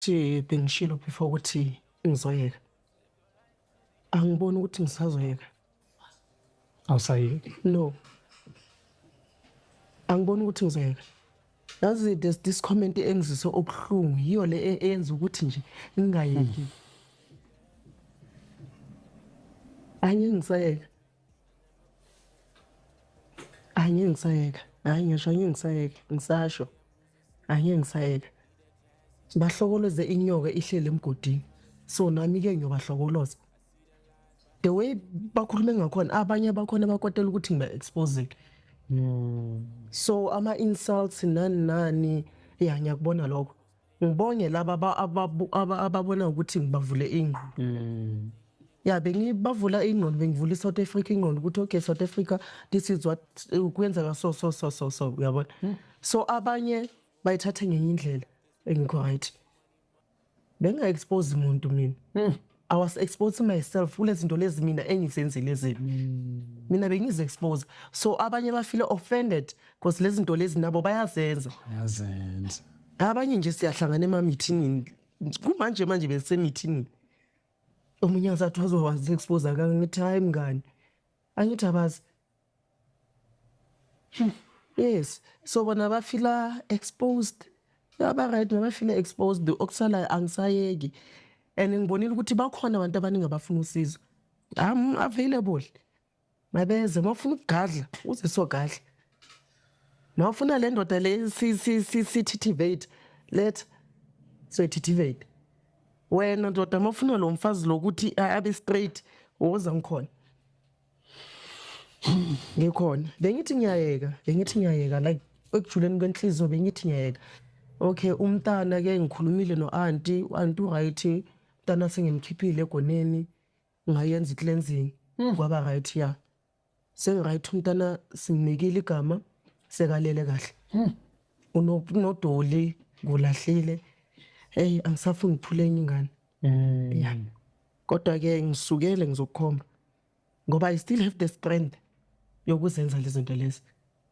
Nje bengishilo before ukuthi ngizoyeka. Angiboni ukuthi ngisazoyeka. Awusayeki. No. Angiboni ukuthi ngizoyeka. Yazi there's this comment engizise obuhlungu yiyo le e- eyenza ukuthi nje ngingayeki. Anye ngisayeka. Anye ngisayeka. Hayi ngisho anye ngisayeka. Ngisasho. angeke ngisayeka bahlokoloze inyoka ihlele emgodini so nami ke ngiyobahlokoloza the way bakhulume ngakhona abanye abakhona bakwatela ukuthi ngiba-exposile hmm. so ama-insults nani nani ya ngiyakubona lokho ngibonge laba ababona ukuthi ngibavule ingqondo hmm. ya yeah, bengibavula ingqondo bengivula i-south africa ingqondo ukuthi okay south africa this is what eh, kwenzeka so so so so so uyabona hmm. so abanye bayithathe ngenye indlela engikho right benga-expose muntu mina hmm. i was exposing myself kule zinto lezi mina engizenzile zini hmm. mina bengizi-expose so abanye bafile offended because lezi zinto lezi nabo bayazenza abanye nje siyahlangana emamithinini kumanje manje besemithini omunye ngisathi wazowazi expose akangithi hayi mngani angithi abazi yes so bona bafila exposed aba-right nabafila exposed okusalayo angisayeki and ngibonile ukuthi bakhona abantu abaningi abafuna usizo am available mabeze uma ufuna ukugadla uze sogadla uma ufuna le ndoda le si- si- si- sithithivate letha soyithithivate wena ndoda uma ufuna lo mfazi lokuthi a- abe straight woza ngikhona ngikhona bengithi ngiyayeka bengithi ngiyayeka like ekujuleni kwenhliziyo bengithi ngiyayeka okay umntana ke ngikhulumile no-anti u-anti u-right umntana sengimkhiphile egoneni ngayenza i-cleansing Mm. kwaba right ya sengi-right umntana simnikile igama sekalele kahle Mm. Uno- unodoli ngulahlile eyi angisafuni ngiphule enye ingane Mm. ya kodwa-ke ngisukele ngizokukhomba ngoba i still have the strength yokuzenza lezinto lezi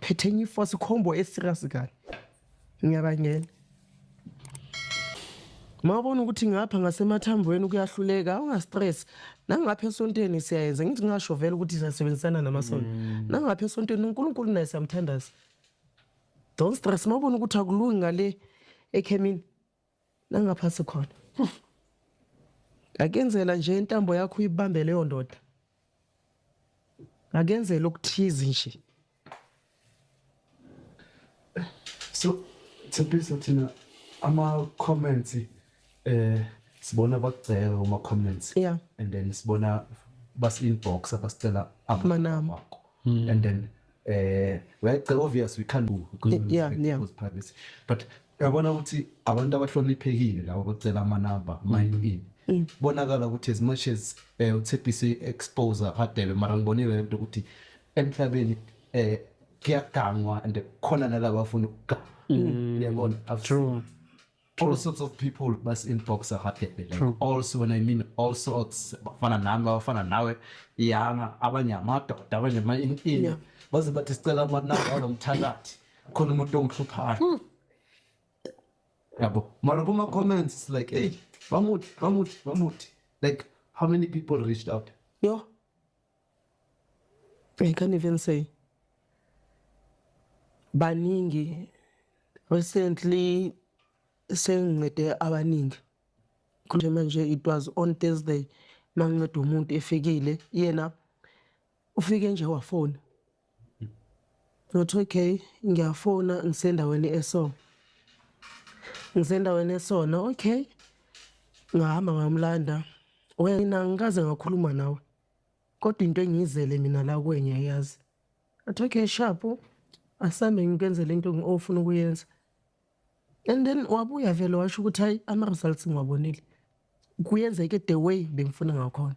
Phethe enye ifosi combo eserious kani. Ngiyabangena. Mawubona ukuthi ngapha ngasemathambweni kuyahluleka ungastress. Nangapha esontweni siyayenza ngithi ngasho vele ukuthi siyasebenzisana namasonto. Mm. Nangapha esontweni uNkulunkulu naye siyamthandaza. Don't stress mawubona ukuthi akulungi ngale ekhemini. nangaphansi khona ngakenzela nje intambo yakho uyibambe leyo ndoda ngakenzela okuthize nje so thembisa thina ama-comments eh sibona bakugceka kuma-comments yeah. and then sibona basi-inbox abasicela amanama hmm. and then eh like obvious we can't do because yeah, yeah. privacy but yabona ukuthi abantu abahloniphekile labo bacela amanamba mayini mm. bonakala ukuthi as much as eh uthepise exposer hadebe mara ngibonile lento ukuthi emhlabeni eh kuyagangwa and khona nalabo afuna ukuganga mm. yabona true all sorts of people basi-inbox abaphephe like True. all so when i mean all sorts abafana nami abafana nawe iyanga abanye amadoda abanye ama-inini Yeah. baze bathi sicela amanamba alo mthakathi khona umuntu ongihluphayo yabo mara kuma-comments it's like hey bamuthi bamuthi bamuthi like how many people reached out yo I can even say baningi recently sengincede abaningi kunje manje it was on Thursday manginceda umuntu efikile yena ufike nje wafona nothi okay ngiyafona ngisendaweni eso ngisendaweni esona okay ngahamba ngamlanda wena ngikaze ngakhuluma nawe kodwa into engiyizele mina la kwenya yazi athi okay shapu asambe ngikwenzele into ofuna ukuyenza and then wabuya vele washo ukuthi hayi ama-results ngiwabonile kuyenzeke the way bengifuna ngakhona